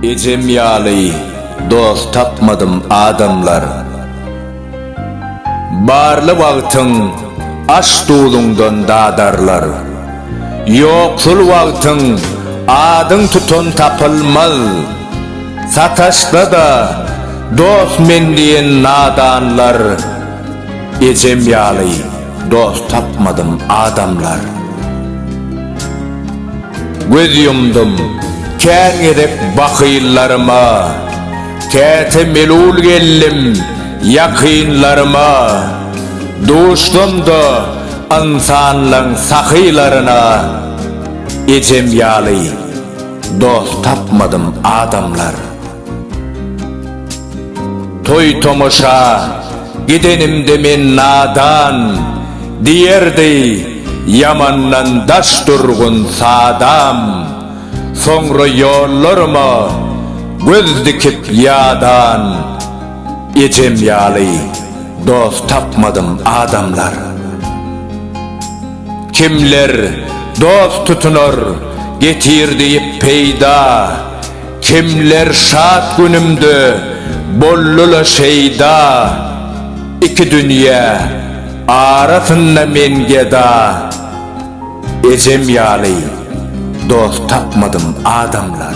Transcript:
Ejem ýaly dost tapmadym adamlar Barly wagtyň aş duluňdan dadarlar Ýoksul wagtyň adyň tutan tapylmaz Sataşsa-da, dost men diýen nadanlar, Ejem ýaly dost tapmadym, adamlar. Göz ýumdum, kän gezek bakyllaryma, Käte melul geldim ýakynlaryma, Duşdum-da ynsanlaň sahylaryna, Ejem ýaly Dost tapmadym adamlar. Toý tomaşa gidenimde men nadan diýerdi ýamandan daş durgun sadam soňra ýollaryma göz dikip ýadan ejem ýaly dost tapmadym adamlar. Kimler dost tutunar, getir diýip peýda, Kimler şat günümde, boldy-la şeýda. Iki dünýe arasynda men geda, Ejem ýaly dost tapmadym adamlar.